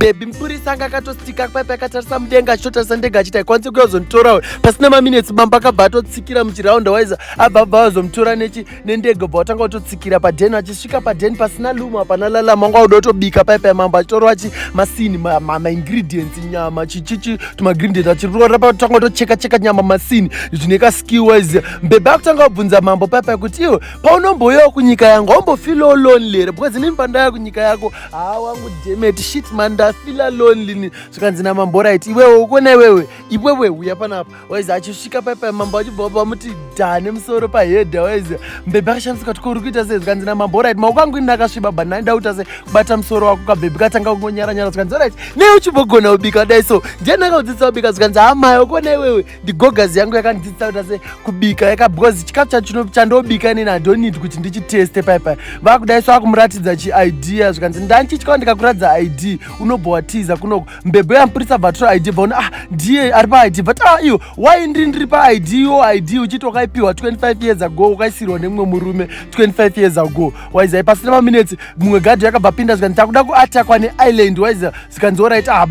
bebi mupurisa anga akatostika paipi akatarisa mudenga achitotarisa ndega achiti haikwanisi kuya kuzonditora uyu pasina maminetsi bamba akabva atotsikira muchiraunda waiza abva abva vazomutora nechi nendege bva watanga kutotsikira padheni achisvika padheni pasina lumo hapana lalama anga auda kutobika paipi yamambo achitorwa achi masini maingredients nyama chichichi tumagredient achirora patanga kutocheka cheka nyama masini zvine kaskill wise mbebe akutanga kubvunza mambo paipi kuti iwe paunombouyawo kunyika yangu aumbofilowo lonely here because inini pandaya kunyika yako haa wangu demet shit man ndafila lonely ni zvikanzi namambo right iwewe ukona iwewe iwewe uya panapa waizi achisvika paipai mambo achibva vamuti dha nemusoro pahedha waizi mbebe akashamisa kati kouri kuita sei zvikanzi namambo right maoko angu ini akasviba but nai ndauta sei kubata musoro wako kabhebhi katanga kungonyaranyara zvikanzi right nei uchibogona ubika dai so ndiani akaudzidza ubika zvikanzi hamai ukona iwewe ndigogazi yangu yakandidzidzisa kuti ase kubika yaka because chikafu chacho chandobika inini i don't need kuti ndichiteste pai pai vakudai so akumuratidza chiidea zvikanzi ndandichityao ndikakuratidza id unobva watiza kunoko mbebo yamupurisa bvatura id bvaona ah ndiye ari paid but ah iyo why ndiri ndiri paid yo id uchiti wakaipiwa 25 years ago ukaisirwa nemumwe murume 25 years ago waiza ipasina maminetsi mumwe gadhi yakabva pinda zvikanzi takuda kuatakwa neisland waiza zvikanzi orit ah,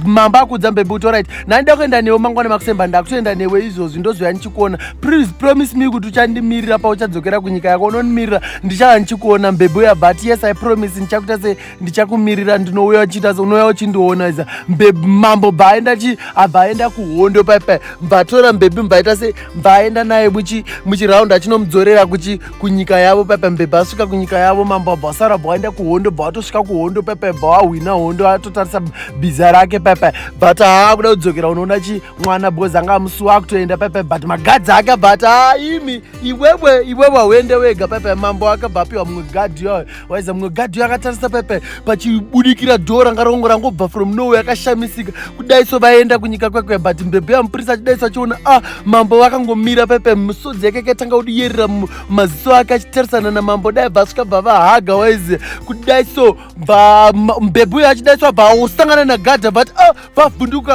mamba akudza mbebe kuti orit nandida kuenda newe mangwana makusemba ndakutoenda newe izvozvi ndozoya ndichikuona please promise me kuti uchandimirira pauchadzokera kunyika yako unondimirira ndichava ndichikuona mbebe uyabva ati yes i promise ndichakuita se ndichakumirira ndinouya uchiita unouya uchindiona iza mbebi mambo bvaenda chi abvaenda kuhondo paipai mbatora mbebi mbaita se mbaenda naye muchi muchiraundi achinomudzorera kuchi kunyika yavo paipai mbebi asvika kunyika yavo mambo abva asara bvaenda kuhondo bva atosvika kuhondo paipai bva wahwina hondo atotarisa biza rake paipai but haa kuda kudzokera unoona chi mwana bhozi anga amusuwa akutoenda paipai but magadzi ake but haa imi iwewe iwewe hauende wega paipai mambo akabva apiwa mumwe gadhi yoyo waiza mumwe gadhi uyo akatarisa pepe pachibudikira dhoo ranga rongo rangobva from nowe akashamisika kudaiso vaenda kunyika kwekwe but mbebhe yamupurisa achidaiso achiona a ah, mambo vakangomira pepe misodzi yake kaitanga kudiyerera maziso ake achitarisana namambo dai bva svika bva vahaga waize kudaiso mbebhe uyo achidaiso abva osangana nagadhi but a ah, vavhunduka